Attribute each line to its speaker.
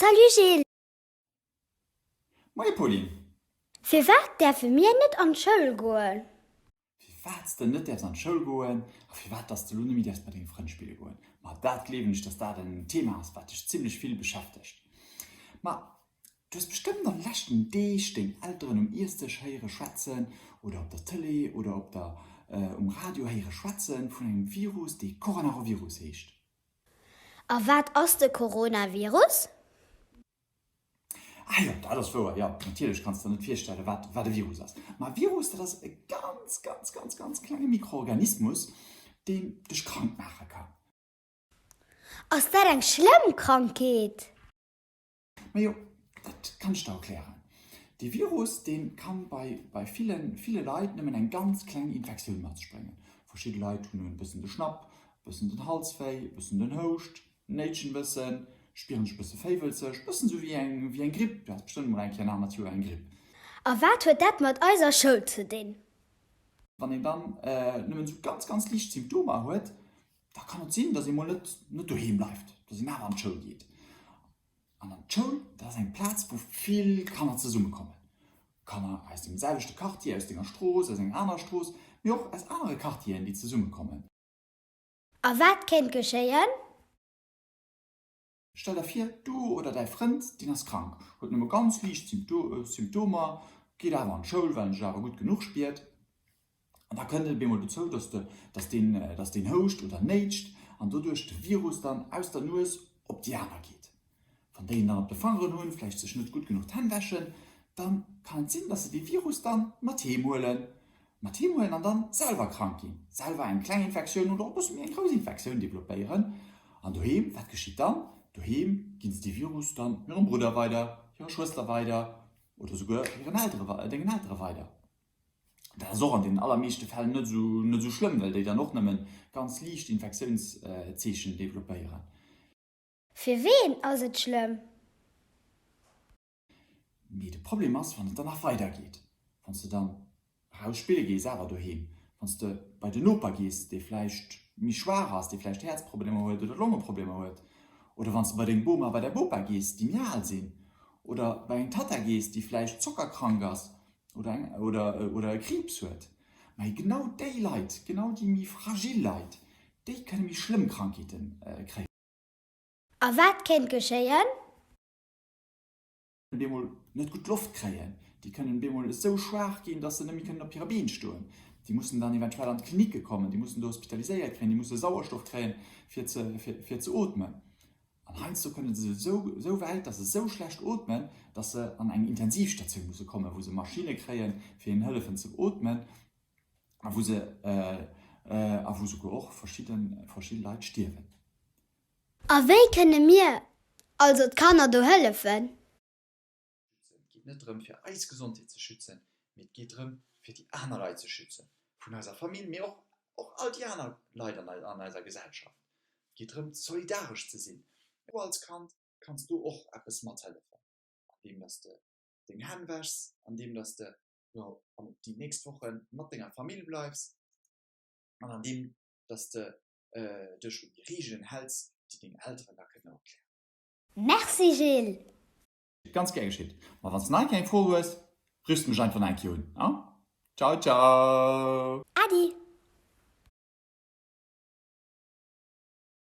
Speaker 1: Salut Gilles! Moie
Speaker 2: Pauline! Firwat
Speaker 1: däerfe mir net an d'Schoul goen? firwat
Speaker 2: s de net däerfs an d'Schoul goen a firwat dass de lo nemme däerfs mat denge Frënn spille goen. Ma dat gleewen ech, dass dat en Thema ass, wat dech zimlech vill beschäftegt. Ma du hues bestëmmt an de leschten Deeg deng Elteren um Iessdësch héiere schwätzen oder op der Tëlee oder op der um Radio héiere schwätze vun engem Virus, dee Coranarovirus heescht. A
Speaker 1: wat ass de Coronavirus?
Speaker 2: Ah jo, dat ass wouer, jo, natierlech kanns de der net virstellen, wat wat e Virus ass. Ma e Virus, dat ass e ganz, ganz, ganz, ganz klenge Mikroorganismus, deen dech krank maache kann.
Speaker 1: Ass dat eng schlëmm Krankheet?
Speaker 2: Majo, dat kann ech der erklären. Dee Virus, dee kann bei bei ville ville Leit nëmmen eng ganz kleng Infektioun mat sech bréngen. Verschidde Leit hunn e bëssen de Schnapp, e bëssen den Halswéi, e bëssen den Houscht. Néitschen bëssen, spieren sech bëssen féiwelzeg, bëssen sou wéi eng wéi eng Gripp, du has bestëmmt mol eng Kéier nach mat sou eng Gripp. A wat huet
Speaker 1: dat mat eiser Schoul ze dinn? Wann een
Speaker 2: dann nëmmen sou ganz ganz liicht Symptomer huet, da kann et sinn, dass ee mol net net doheem bleift, dass een awer an d'Schoul geet. An an d'Schoul, dat ass eng Plaz wou vill Kanner zesumme kommen, Kanner aus dem selwechte Quartier, aus denger Strooss, aus enger anerer Strooss, mee och aus anere Quartieren déi zesumme kommen.
Speaker 1: A wat kéint geschéien?
Speaker 2: Stell der vir, du oder däi Frënd, deen ass krank, huet nëmme ganz liicht Symptomer, geet awer an d'Schoul, well en sech awer gutt genuch spiert. An da kënnt et op eemol dozou, dass deen houscht oder néitscht an doduerch de Virus dann aus der Nues op déi aner geet. Wann déi en dann op de Fangeren hunn, vläicht sech net gutt genuch d'Hänn wäschen, dann kann et sinn, dass se dee Virus dann mat heem huelen, mat heem huelen an dann selwer krank ginn, selwer eng kleng Infektioun oder och e bësse méi eng grouss Infektioun developpéieren. An doheem, wat geschitt dann? Doheem ginn se dee Virus dann hirem Brudder weider, hirer Schwëster weider oder souguer hiren Eltere, dengen Eltere weider. Dat ass och an deenen allermeeschte Fäll net esou, net esou schlëmm, well déi dann och nëmmen ganz liicht Infektiounszeechen developpéieren.
Speaker 1: Fir ween ass et schlëmm?
Speaker 2: Mee de Problem ass, wann et dann nach weider geet, wann s de dann eraus spille gees, awer doheem, wann s de bei den Noper gees, dee vläicht méi schwaach ass, dee vläicht Häerzproblemer huet oder Longeproblemer huet, oder wann s de bei deng Boma, bei däi Bopa gees, déi méi al sinn, oder bei eng Tatta gees, déi vläicht zockerkrank ass oder e Kriibs huet. Mä genau déi Leit, genau déi méi fragil Leit, déi kënne méi schlëmm Krankheete kréien. A
Speaker 1: wat kéint
Speaker 2: geschéien? Bemol net gutt Loft kréien. Déi kënnen bemol esou schwaach ginn, dass se net méi kënnen op hire Been stoen. Déi mussen dann eventuell an d'Klinicke kommen, déi mussen do hospitaliséiert kréien, déi musse Sauerstoff kréien, fir ze, fir ze ootmen. An heiansdo kënne se esou, esou wäit, dass se esou schlecht ootmen, dass se an eng Intensivstatioun musse kommen, wou se Maschinne kréien, fir hinnen hëllefen ze ootmen. a wou se a wou souguer och verschidde Leit stierwen.
Speaker 1: A wéi kënne mir also d'Kanner do hëllefen?
Speaker 2: Et geet net drëm fir eis Gesondheet ze schützen, mee et geet drëm fir déi aner Leit ze schützen, vun eiser Famill, mee och all déi aner Leit an eiser Gesellschaft. Et geet drëm solidaresch ze sinn. Du als Kand kanns do och eppes mathëllefen, andeem datt s de deng Hänn wäschs, andeem datt s de jo an op déi nächst Wochen mat denger Famill bleifs an an deem dass de dech un déi Regeln häls déi deng Elteren der kënne erklären. Merci
Speaker 1: Gilles! Ganz gär
Speaker 2: geschitt, ma wanns de nach eng kéier eng Fro hues, rifs de mech einfach nach eng kéier un, a ciao ciao! Äddi!